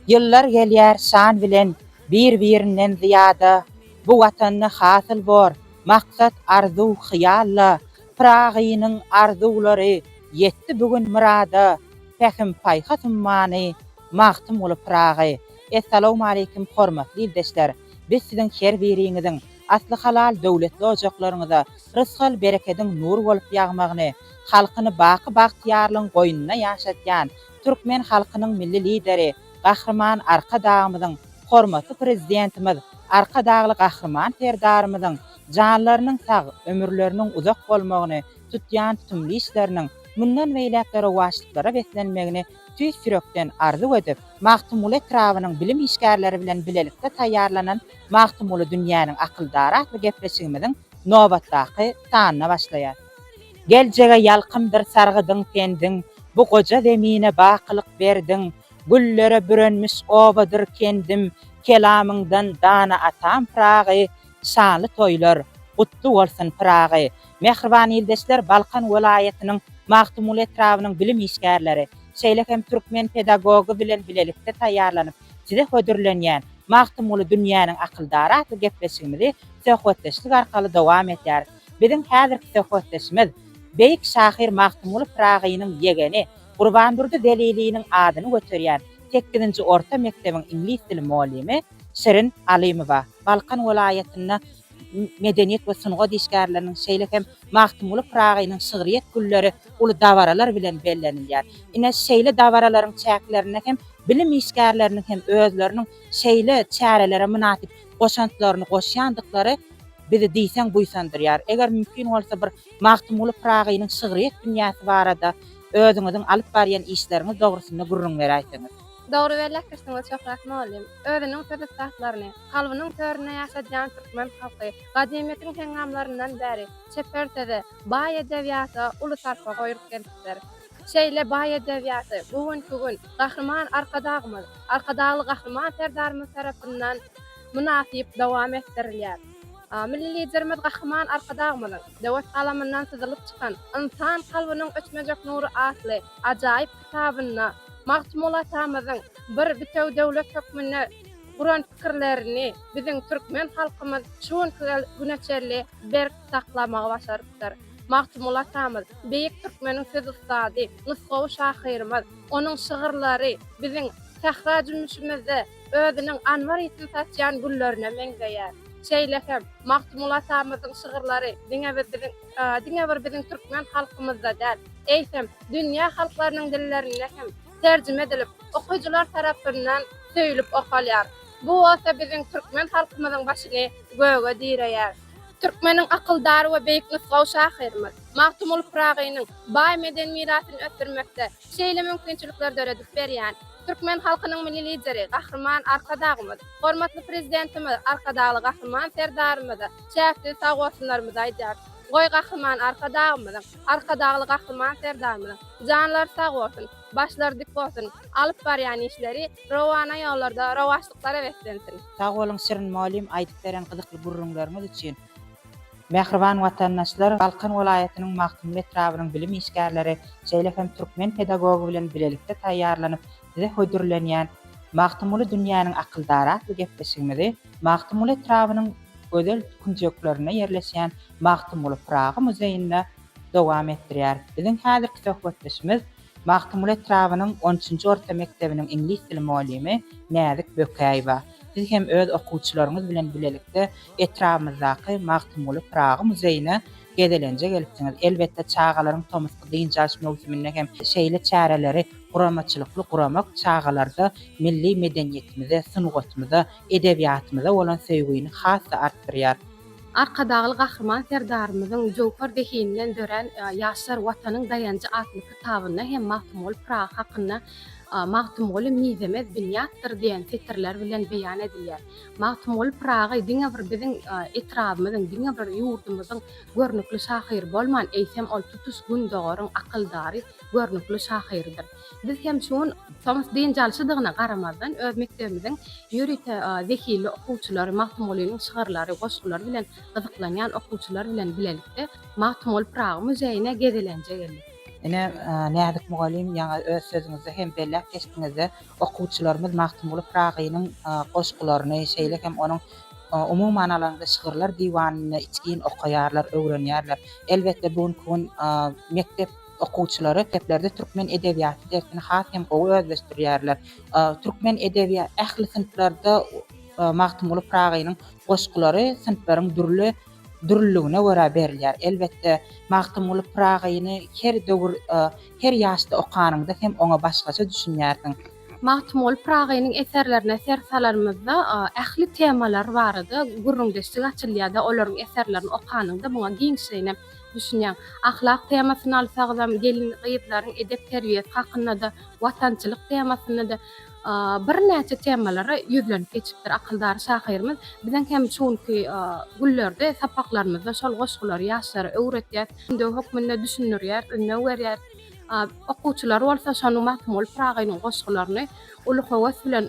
Ýyllar gelýär şan bilen bir-birinden zyýada, Bu Watanda hasyl bor maksat arzuw hyýalla, Pyragynyň arzuwlary ýetdi bu gün myrada, Pähim-paýhas ummany Magtymguly Pyragy. Essalawmaleýkim hormatly ildeşler! Biz siziň her biriňiziň asly halal döwletli ojaklaryňyza rysgal-berekediň nur bolup ýagmagyny, halkyny baky bagtyýarlygyň goýnunda ýaşatýan türkmen halkynyň Milli Lideri Gahryman Arkadagymyzyň, hormatly Prezidentimiz Arkadagly Gahryman Serdarymyzyň janlarynyň sag, ömürleriniň uzak bolmagyny, tutýan tutumly işleriniň mundan beýläk-de rowaçlyklara beslenmegini Tüýs ýürekden arzuw edip, Magtymguly etrabynyň bilim işgärleri bilen bilelikde taýýarlanan Magtymguly dünýäniň akyldary atly gepleşigimiziň nobatdaky sanyna başlaýar. Geljege ýalkymdyr sargydyň pendiň, Bu goja zemine bakylyk berdiň. Güllere bürenmiş obadyr kendim, Kelamyňdan dana atam Pyragy, Şanly toýlar, gutly bolsun Pyragy! Mähriban ildeşler Balkan welaýatynyň Magtymguly etrabynyň bilim işgärleri, şeýle hem türkmen pedagogy bilen bilelikde taýýarlanyp size hödürlenýän Magtymguly dünýäniň akyldary atly gepleşigimizi söhbetdeşlik arkaly dowam edýäris. Biziň häzirki söhbetdeşimiz beýik şahyr Magtymguly Pyragynyň ýegeni, Gurbandurdy Zeliliniň adyny göterýän sekizinji orta mekdebiň iňlis dili mollimi Şirin Alymowa. Balkan welaýatynda medeniýet we sungat işgärleriniň, şeýle hem Magtymguly Pyragynyň şygryýet günleri uly dabaralar bilen bellenilýär. Ine, şeýle dabaralaryň çäklerinde hem bilim işgärleriniň hem özleriniň şeýle çärelere mynasyp goşantlaryny goşýandyklary bizi diýseň buýsandyrýar. Eger mümkin bolsa, bir Magtymguly Pyragynyň şygryýet dünýäsi barada özüňiziň alyp barýan işleriňiz dogrusynda gürrüň beräýseňiz. Dogry bellekdirsiňiz Şöhrat mugallym. Özüniň söz ussatlaryny, kalbynyň töründe ýaşadýan türkmen halky gadymyýetiň heňňamlaryndan bäri çeper söze, baý edebiýata uly sarpa goýup gelipdir. Şeýle baý edebiýaty bu günki gün Gahryman Arkadagymyz, Arkadagly Gahryman Serdarymyz tarapyndan mynasyp dowam etdirilýär. Milli Liderimiz Gahryman Arkadagymyzyň döwet galamyndan syzylyp çykan Ynsan kalbynyň öçmejek nury atly ajaýyp kitabynda Magtymguly atamyzyň bir bitewi döwlet hökmünde guran pikirlerini biziň türkmen halkymyz şu günki güne çenli berk saklamagy başarypdyr. Magtymguly atamyz, beýik türkmeniň söz ussady, nusgawy şahyrymyz. Onuň şygyrlary biziň sähra jümmüşimizde özüniň anbar ýitini saçýan güllerine meňzeýär. Şeýle hem, Magtymguly atamyzyň şygyrlary diňe bir biziň. diňe bir biziň türkmen halkymyzda däl, eýsem, dünýä halklarynyň dillerinde hem terjime edilip, okyjylar tarapyndan söýlüp okalýar. Bu bolsa biziň türkmen halkymyzyň başyny göge direýär. Türkmeniň akyldar we beýik nusgawy şahyrymyz Magtymguly Pyragynyň baý medeni mirasyny ösdürmekde şeýle mümkinçilikler döredip berýän türkmen halkynyň Milli Lideri Gahryman Arkadagymyz, hormatly Prezidentimiz Arkadagly Gahryman Serdarymyza Çäksiz sag bolsunlarymyzy aýdýarys. Goý Gahryman Arkadagymyzyň, Arkadagly Gahryman Serdarymyzyň janlary sag bolsun, başlary dik bolsun, alyp barýan işleri rowana ýollarda rowaçlyklara beslensin. Sag boluň Şirin mugallym aýdyp beren gyzykly gürrüňleriňiz üçin. Mähriban watandaşlar, Balkan welaýatynyň Magtymguly etrabynyň bilim işgärleri, şeýle hem türkmen pedagogy bilen bilelikde taýýarlanyp, Size hödürlenýän Magtymguly dünýäniň akyldary atly gepleşigimizi Magtymguly etrabynyň gözel künjeklerinde ýerleşýän Magtymguly Pyragy muzeýinde dowam etdirýäris. Biziň häzirki söhbetdeşimiz Magtymguly etrabynyň on üçünji orta mekdebiniň iňlis dili mugallymy Näzik Bökäýewa. Siz hem öz okuwçylaryňyz bilen bilelikde etrabymyzdaky Magtymguly Pyragy muzeýine Gezelenje gelipsiňiz. Elbetde, çagalaryň tomusky dynç alyş möwsüminde hem şeýle çäreleri guramaçylykly guramak çagalarda milli medeniýetimize, sungatymyza, edebiýatymyza bolan söýgini has-da artdyrýar. Arkadagly Gahryman Serdarymyzyň Jöwher zehininden dörän Ýaşlar, Watanyň daýanjy atly kitabynda hem Magtymguly Pyragy hakynda Magtymguly mizemez binýatdyr diýen setirler bilen beýan edilýär. Magtymguly Pyragy diňe bir biziň etrabymyzyň, diňe bir ýurdumyzyň görnükli şahyry bolman, eýsem, ol tutuş Gündogaryň akyldary, görnükli şahyrydyr. Biz hem şu gün, tomus dynç alşydygyna garamazdan, öz mekdebimiziň ýörite zehinli okuwçylary, Magtymgulynyň şygyrlary, goşgulary bilen gyzyklanýan okuwçylar bilen bilelikde Magtymguly Pyragy muzeýine gezelenje geldik. Ine, Näzik mugallym, ýaňy öz sözüňizde hem belläp geçdiňiz-de, Okuwçylarymyz Magtymguly Pyragynyň goşgularyny, şeýle hem onuň umuman alanda şygyrlar diwanyny içgin okaýarlar, öwrenýärler. Elbetde, bu günki gün mekdep okuwçylary mekdeplerde türkmen edebiýaty dersini has hem gowy özleşdirýärler. Türkmen edebiýaty ähli synplarda Magtymguly Pyragynyň goşgulary synplaryň dürli dürlüligine görä berilýär. Elbetde, Magtymguly Pyragyny her döwür Her ýaşda okanyňda hem oňa başgaça düşünýärsiň. Magtymguly Pyragynyň eserlerine ser salanymyzda, ähli temalar barada gürrüňdeşlik açylýar-da, olaryň eserlerini okanyňda muňa giňişleýinem düşünýäň. Ahlak temasyny alsagzam, gelin-gyzlaryň edep-terbiýesi hakynda-da, watançylyk temasynda-da birnäçe temalara ýüzlenip geçipdir akyldar şahyrymyz. Biziň hem şu günki günlerde sapaklarymyzda şol goşgulary ýaşlara öwretýäs. Ündew hökmünde düşündirýär, ündew berýär. Okuwçylar bolsa şonuň Magtymguly Pyragynyň goşgularyny uly höwes bilen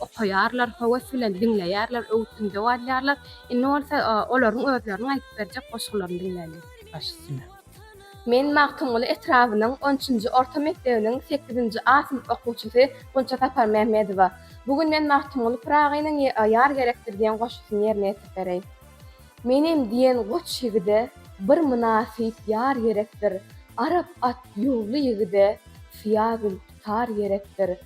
okaýarlar, höwes bilen diňleýärler, öwüt-ündew alýarlar. Indi bolsa olaryň özleriniň aýdyp berjek goşgularyny diňläliň. Baş üstüne. Men Magtymguly etrabynyň on üçünji orta mekdebiniň sekizinji A synp okuwçysy Gunça Saparmämmedowa. Bu gün men Magtymguly Pyragynyň Ýar gerekdir diýen goşgusyny ýerine ýetirip bereýin. Menem diýen goç ýigide bir mynasyp ýar gerekdir, arap at ýuwly ýigide syýa gül tutar gerekdir.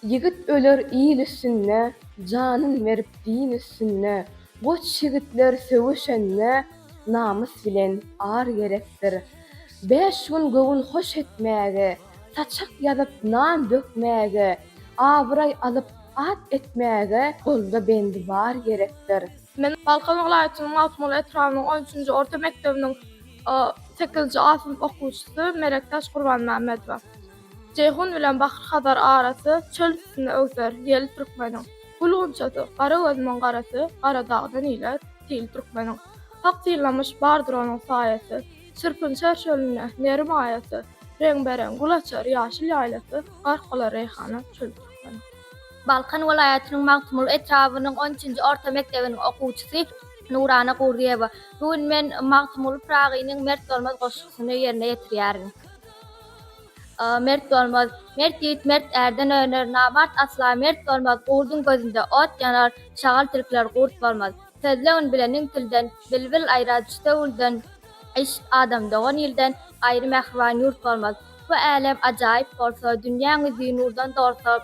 Ýigit öler il üstünde, janyn berip din üstünde, goç ýigitler söweşende namys bilen ar gerekdir. Bäş gün göwün hoş etmäge, saçak ýazyp nan dökmäge, abraý alyp at etmäge golda bendi bar gerekdir. Men Balkan welaýatynyň Magtymguly etrabynyň on üçünji orta mekdebiniň sekizinji A synp okuwçysy Melekdaş Gurbanmämmedowa. Jeýhun bilen Bahyr-Hazar arasy çöl üstünde öwser, ýel türkmeniň, Gül gunçasy, gara gözümiň garasy, gara dagdan ile, til türkmeniň, Hak synlamyş, bardyr onuň saýasy. Çyrpyn çar çölünde, Meri maýasy, Reňbe-reň gül açar ýaşyl ýaýlasy, Gark bolar reýhana çöl türkmen. Balkan welaýatynyň Magtymguly etrabynyň on üçünji orta mekdebiniň okuwçysy Nurana Gurdyýewa. Bu gün men Magtymguly Pyragynyň Mert bolmaz goşgusyny ýerine ýetirýärin. Mert bolmaz. Mert ýigit mert ärden öner, Namart asla mert bolmaz, Gurduň gözünde ot ýanar, Şagal tilkler gurt bolmaz. Sözle ün bilen iň tilden, Bilbil aýrar çüte gülden. Yşk adam dogan ilden, Gaýry mähriban ýurt bolmaz. Bu älem ajaýyp bolsa, Dünýäň ýüzi nurdan dolsa.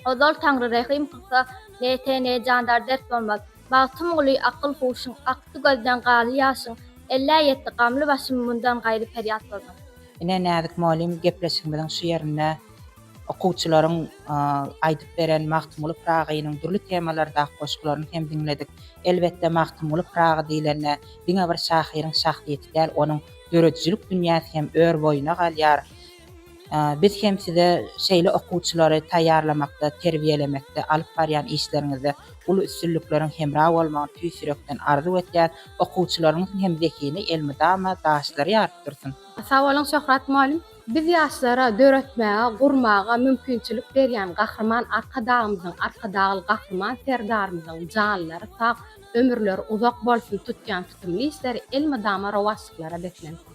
Ozal Taňry rehim kylsa, Ne te, ne jandar dert bolmaz. Bagtym guly akyl-huşyň, Akdy gözden galy ýaşyň. Ellä ýetdi gamly başym, Mundan gaýry perýat bolmaz. Ine, Näzik mugallym, gepleşigimiziň şu ýerinde. Okuwçylaryň aýdyp beren Magtymguly Pyragynyň dürli temalardaky goşgularyny hem diňledik. Elbetde, Magtymguly Pyragy diýlende, diňe bir şahyryň şahsyýeti däl, onuň döredijilik dünýäsi hem ör boýuna galýar. Biz hem size şeýle okuwçylary taýýarlamakda, terbiýelemekde alyp barýan işleriňizde uly üstünlikleriň hemra bolmagyny tüýs ýürekden arzuw edýäris. Okuwçylaryňyzyň hem zehini elmydama daşlary ýaryp dursun! Sag boluň Şöhrat mugallym. Biz ýaşlara döretmäge, gurmaga mümkinçilik berýän Gahryman Arkadagymyzyň, Arkadagly Gahryman Serdarymyzyň janlary sag, ömürleri uzak bolsun tutýan tutumly işleri elmydama rowaçlyklara beslensin.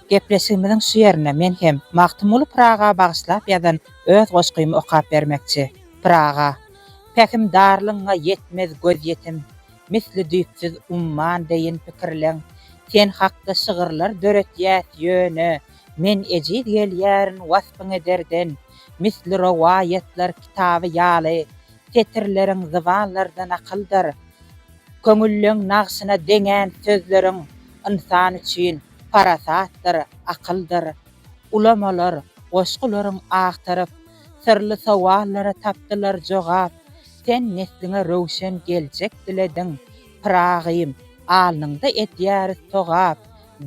Gepleşigimiziň şu ýerinde men hem Magtymguly Pyraga bagyşlap ýazan öz goşgymy okap bermekçi. Pyraga. Pähim darlygyňa ýetmez gözýetim, Misli düýpsüz umman deýin pikirleň. Sen hakda şygyrlar döretýäs ýöne, Men ejiz gelýärin waspyň ederden. Misli rowaýatlar kitaby ýaly, Setirleriň zybanlarda nakyldyr. Köňülleň nagşyna deňän sözleriň, Ynsan üçin parasatdyr, akyldyr. Ulamalar, goşgularyň agtaryp, Syrly sowallara tapdylar jogap. Sen nesliňe röwşen geljek dilediň, Pyragym, alnyňda edýäris togap.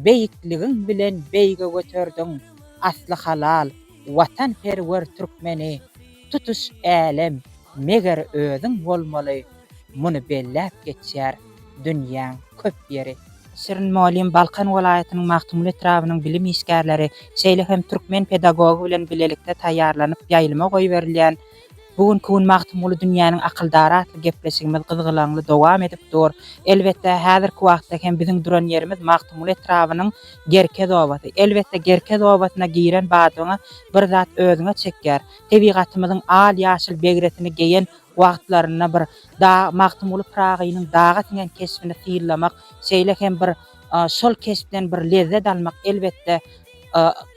Beýikligiň bilen beýge göterdiň asly halal watanperwer türkmeni. Tutuş älem, meger, özüň bolmaly. Muny belläp geçýär dünýäň köp ýeri. Şirin mugallym Balkan welaýatynyň Magtymguly etrabynyň bilim işgärleri, şeýle hem türkmen pedagogy bilen bilelikde taýýarlanyp ýaýlyma goýberilýän Bu günki gün Magtymguly dünýäniň akyldary atly gepleşigimiz gyzgalaňly dowam edip dur. Elbetde, häzirki wagtda hem biziň duran ýerimiz Magtymguly etrabynyň Gerkez obasy. Elbetde, Gerkez obasyna giren badyňa bir zat özüňe çekýär. Tebigatymyzyň al-ýaşyl begresini geýen Wagtlarynda bir dag Magtymguly Pyragynyň daga siňen keşbini syzlamak, şeýle hem bir şol keşpden bir lezzet almak elbetde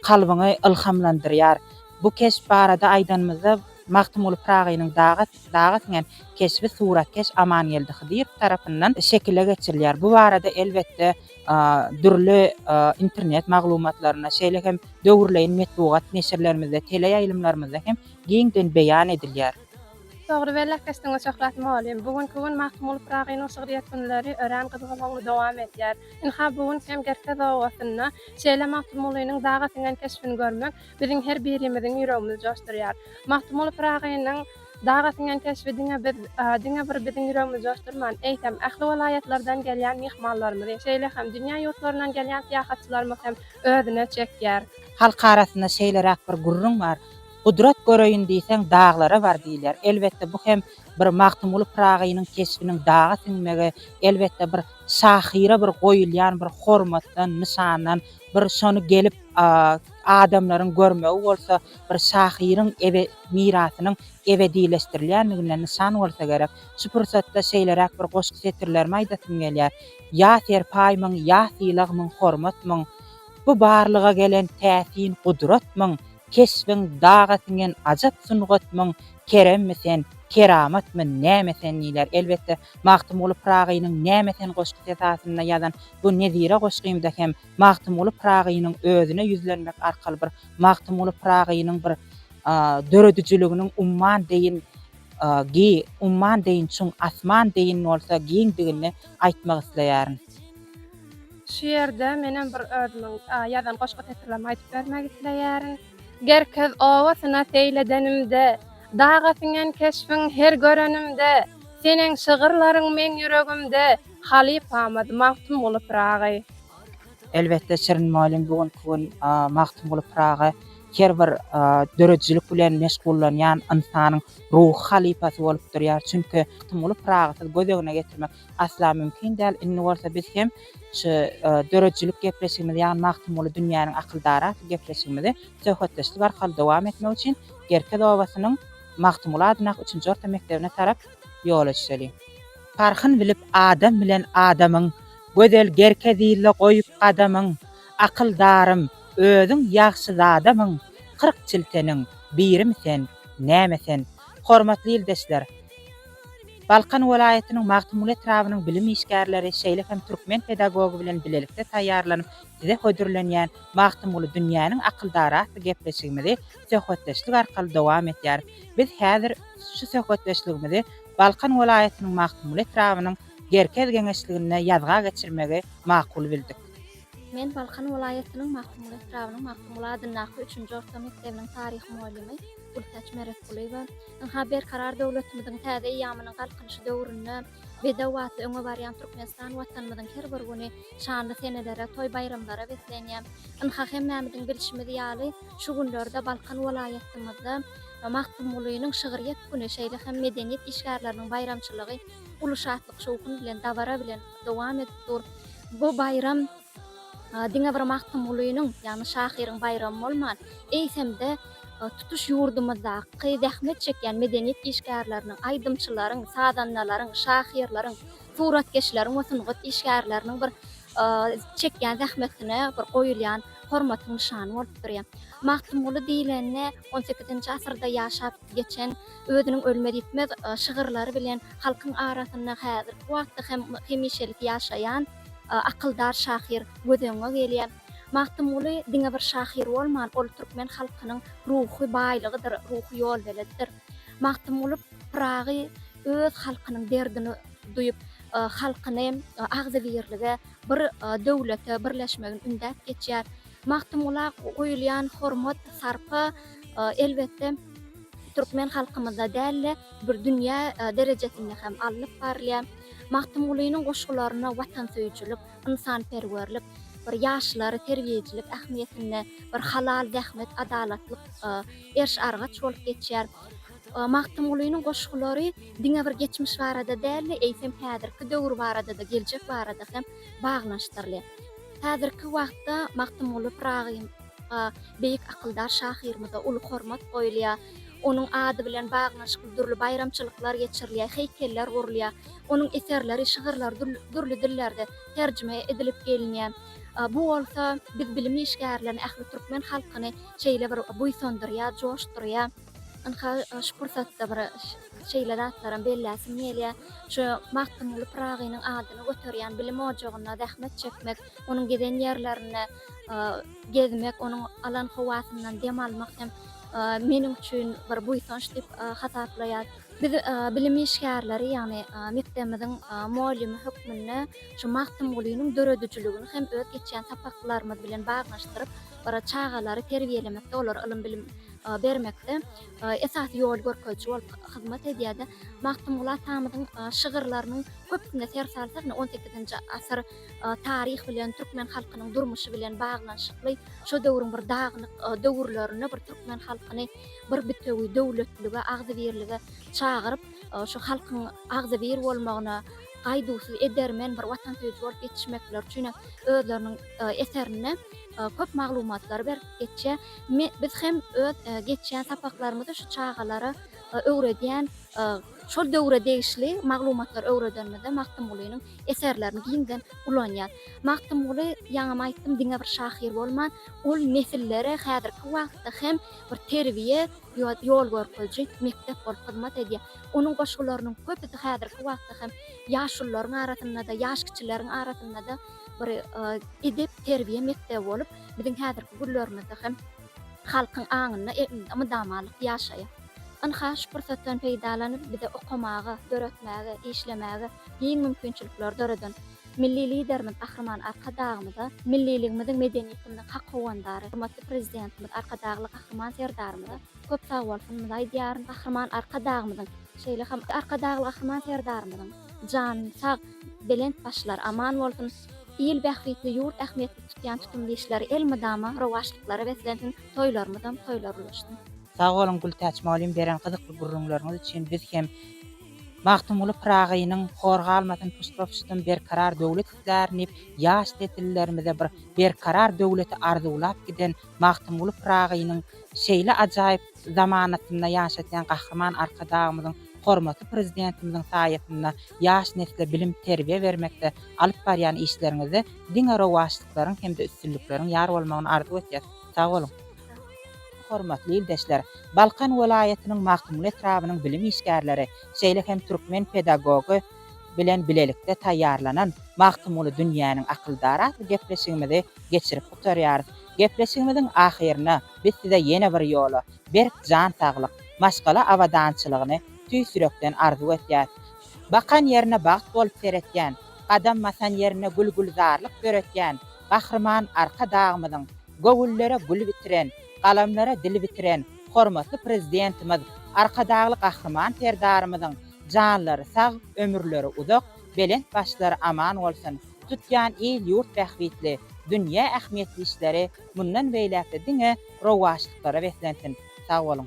kalbyňy ylhamlandyrýar. Bu keşp barada aýdanymyzda Magtymguly Pyragynyň daga daga siňen keşbi suratkeş Amangeldi Hydyrow tarapyndan şekile geçirilýär. Bu barada elbetde dürli internet maglumatlarynda, şeýle hem döwürleýin metbugat neşirlerimizde, teleýaýlymlarymyzda hem giňden beýan edilýär. Dogry bellap geçdiňiz Şöhrat mugallym. Bu günki gün Magtymguly Pyragynyň şygryýet günleri örän gyzgalaňly dowam edýär. Ynha, bu gün hem Gerkez obasynda şeýle Magtymgulynyň daga siňen keşbini görmek biziň her birimiziň ýüregimizi joşdurýar. Magtymguly Pyragynyň daga siňen keşbi diňe biz, diňe bir biziň ýüregimizi joşdurman, eýsem, ähli welaýatlardan gelýän myhmanlarymyzy, şeýle hem dünýä ýurtlaryndan gelýän syýahatçylarymyzy hem özüne çekýär. Halk arasynda şeýleräk bir gürrüň bar, Gudrat göreýin diýseň, daglara bar diýilýär. Elbetde, bu hem bir Magtymguly Pyragynyň keşbiniň daga siňmegi, elbetde, bir şahyra bir goýulýan bir hormatdan, nyşandan, bir şony gelip adamlaryň görmegi bolsa, bir şahyryň mirasynyň ebedileşdirilýändiginden nyşan bolsa gerek. Şu pursatda şeýleräk bir goşgy setirlerimi aýdasym gelýär, Ýa serpaý myň, ýa sylag myň, hormat myň, Bu barlyga gelen täsin gudrat myň, Keşbiň daga siňen ajap sungatmyň Keremmi sen, keramatmy, näme sen diýler. Elbetde, Magtymguly Pyragynyň Näme sen goşgusy esasynda ýazan bu nezire goşgymda hem Magtymguly Pyragynyň özüne ýüzlenmek arkaly bir Magtymguly Pyragynyň bir döredijiliginiň umman deýin gi, umman deýin çuň, asman deýin bolsa giňdigini aýtmak isleýärin. Şu ýerde menem bir özümiň ýazan goşgy setirlerimi aýdyp bermek isleýärin. Gerkez obasyna seýledenimde, Daga siňen keşbiň her görenimde, Seniň şygyrlaryň meň ýüregimde, Halypamyz Magtymguly Pyragy. Elbetde Şirin mugallym bu günki gün Magtymguly Pyragy her bir döredijilik bilen meşgullanýan ynsanyň ruhy halypasy bolup durýar. Çünki Magtymguly Pyragysyz göz öňüne getirmek asla mümkin däl. Indi bolsa biz hem şu döredijilik gepleşigimizi, ýagny Magtymguly dünýäniň akyldary atly gepleşigimizi söhbetdeşlik arkaly dowam etmek üçin Gerkez obasynyň Magtymguly adyndaky üçünji orta mekdebine tarap ýola düşeli. Parhyn bilip adam bilen adamyň, Gözel Gerkez ile goýup gadamyň. Akyldarym, özüň ýagşy zadamyň, Kyrk çilteniň birimi sen, näme sen? Hormatly ildeşler! Balkan welaýatynyň Magtymguly etrabynyň bilim işgärleri şeýle hem türkmen pedagogy bilen bilelikde taýýarlanyp size hödürlenýän Magtymguly dünýäniň akyldary atly gepleşigimizi söhbetdeşlik arkaly dowam etýäris. Biz häzir şu söhbetdeşligimizi Balkan welaýatynyň Magtymguly etrabynyň Gerkez geňeşliginde ýazga geçirmegi makul bildik. Men Balkan welaýatynyň Magtymguly etrabynyň Magtymguly adyndaky üçünji orta mekdebiniň taryh mugallymy Gültäç Meretgulyýewa. Ynha, Berkarar döwletimiziň täze eýýamynyň Galkynyşy döwründe bedew atly öňe barýan Türkmenistan Watanymyzyň her bir güni şanly senelere, toý-baýramlara beslenýär. Ynha, hemmämiziň bilşimiz ýaly, şu günlerde Balkan welaýatymyzda Magtymgulynyň şygryýet güni, şeýle hem medeniýet işgärleriniň baýramçylygy uly şatlyk-şowhun bilen, dabara bilen dowam edip dur. Bu baýram Diňe bir Magtymgulynyň, ýagny şahyryň baýramy bolman, eýsem-de tutuş ýurdumyzdaky zähmet çekýän medeniýet işgärleriniň, aýdymçylaryň, sazandalaryň, şahyrlaryň, suratkeşleriň we sungat işgärleriniň bir çekýän zähmetine bir goýulýan hormatyň nyşany bolup durýar. Magtymguly diýlende, on sekizinji asyrda ýaşap, geçen Özüniň ölmez-ýitmez şygyrlary bilen halkyň arasynda häzirki wagtda hem hemişelik ýaşaýan akyldar şahyr göz öňüňe gelýär. Magtymguly diňe bir şahyr bolman, ol türkmen halkynyň ruhy baýlygydyr, ruhy ýolbeledidir. Magtymguly Pyragy öz halkynyň derdini duýup, halkyny agzybirlige, bir döwlete birleşmegini ündäp geçýär. Magtymgula goýulýan hormat, sarpa, elbetde, türkmen halkymyzda däl-de, bir dünýä derejesinde hem alnyp barylýar. Magtymgulynyň goşgularyna watansöýüjilik, ynsanperwerlik, bir ýaşlary terbiýeçilik ähmiýetinde, bir halal zähmet, adalatlyk erş-argaç bolup geçýär. Magtymgulynyň goşgulary diňe bir geçmiş barada däl-de, eýsem, häzirki döwür barada-da, geljek barada hem baglanyşdyrylýar. Häzirki wagtda Magtymguly Pyragynyňa, beýik akyldar şahyrymyza uly hormat goýulýar. Onuň ady bilen baglanyşykly dürli baýramçylyklar geçirilýär, heýkeller gurulýar. Onuň eserleri, şygyrlary dürli dillerde terjime edilip gelinýär. Bu bolsa biz bilim işgärlerini, ähli türkmen halkyny şeýle bir buýsandyrýar, joşdurýar. Ynha, şu pursatda bir şeýle zatlaram belläsim gelýär. Şu Magtymguly Pyragynyň adyny göterýän bilim ojagynda zähmet çekmek, onuň giden ýerlerinde gezmek, onuň alan howasyndan dem almak hem meniň üçin bir buýsanç diýip hasaplaýar. Biz bilim işgärleri, ýagny mekdebimiziň mugallimi hökmünde şu Magtymgulynyň döredijiligini hem öz geçýän sapaklarymyz bilen baglanyşdyryp, bir çagalary terbiýelemekde, olary ylym-bilim bermekde esasy ýol görkeziji bolup hyzmat edýärdi. Magtymguly atamyzyň şygyrlarynyň köpüsine ser salsak, ine, on sekizinji asyr taryh bilen, türkmen halkynyň durmuşy bilen baglanyşykly, şo döwrüň bir dagynyk döwürlerinde bir türkmen halkyny bir bitewi döwletlige, agzybirlige çagyryp, şu halkyň agzybir bolmagyna gaýduwsyz edermen bir watansöýüji bolup ýetişmekleri üçin hem özleriniň eserinde köp maglumatlary beripdir. geçýär. Me biz hem öz geçýän sapaklarymyzda şu çagalara öwredýän şol döwre degişli maglumatlary öwredenimizde Magtymgulynyň eserlerini giňden ulanýar. Magtymguly ýaňam aýtdym diňe bir şahyr bolman ol nesillere häzirki wagtda hem bir terbiýe ýo ýol görkeziji mekdep bolup hyzmat edýär. Onuň goşgularynyň köpüsi häzirki wagtda hem ýaşulularyň arasynda-da ýaş kiçileriň arasynda-da bir edep terbiýe mekdebi bolup biziň häzirki günlerimizde hem halkyň aňynda egninde mydamalyk ýaşaýar. Ynha, şu pursatdan peýdalanyp, bize okamaga, döretmäge, işlemäge giň mümkinçilikleri döreden Milli Liderimiz Gahryman Arkadagymyza, milliligimiziň, medeniýetimiziň hak howandary, hormatly Prezidentimiz Arkadagly Gahryman Serdarymyza köp sagbolsunmyzy aýdýaryn. Gahryman Arkadagymyzyň, şeýle hem Arkadagly Gahryman Serdarymyzyň jany sag, belent başlary aman bolsun! Il bähbitli ýurt ähmiýetli tutýan tutumly işleri elmydama rowaçlyklara beslensin toýlarymyzam toýlar ulaşsyn. Sag boluň Gültäç mugallym beren gyzykly gürrüňleriňiz üçin biz hem Magtymguly Pyragynyň Hor galmasyn puştma-puştum berkarar döwlet islär nip ýaş nesillerimize bir berkarar döwleti arzuwlap giden Magtymguly Pyragynyň şeýle ajaýyp zamanasynda ýaşatýan Gahryman Arkadagymyzyň, hormatly Prezidentimiziň saýasynda ýaş nesle bilim, terbiýe bermekde alyp barýan işleriňizde diňe rowaçlyklaryň hem-de üstünlikleriň ýar bolmagyny arzuw etýäs. Sag boluň! Hormatly ildeşler! Balkan welaýatynyň Magtymguly etrabynyň bilim işgärleri, şeýle hem türkmen pedagogy bilen bilelikde taýýarlanan Magtymguly dünýäniň akyldary atly gepleşigimizi geçirip gutarýarys. Gepleşigimiziň ahyryna. Biz size ýene bir ýola berk jan saglyk, maşgala abadançylygyny tüýs ýürekden arzuw etýäs. Bakan ýerine bagt bolup seretýän, gadam basan ýerinde gül-gülzarlyk döretýän Gahryman Arkadagymyzyň göwünlere gül bitiren, galamlara dil bitiren hormatly Prezidentimiz Arkadagly Gahryman Serdarymyzyň janlary sag, ömürleri uzak, belent başlary aman bolsun, tutýan il-ýurt bähbitli, dünýä ähmiýetli işleri Mundan beýläkde diňe rowaçlyklara beslensin. Sag boluň.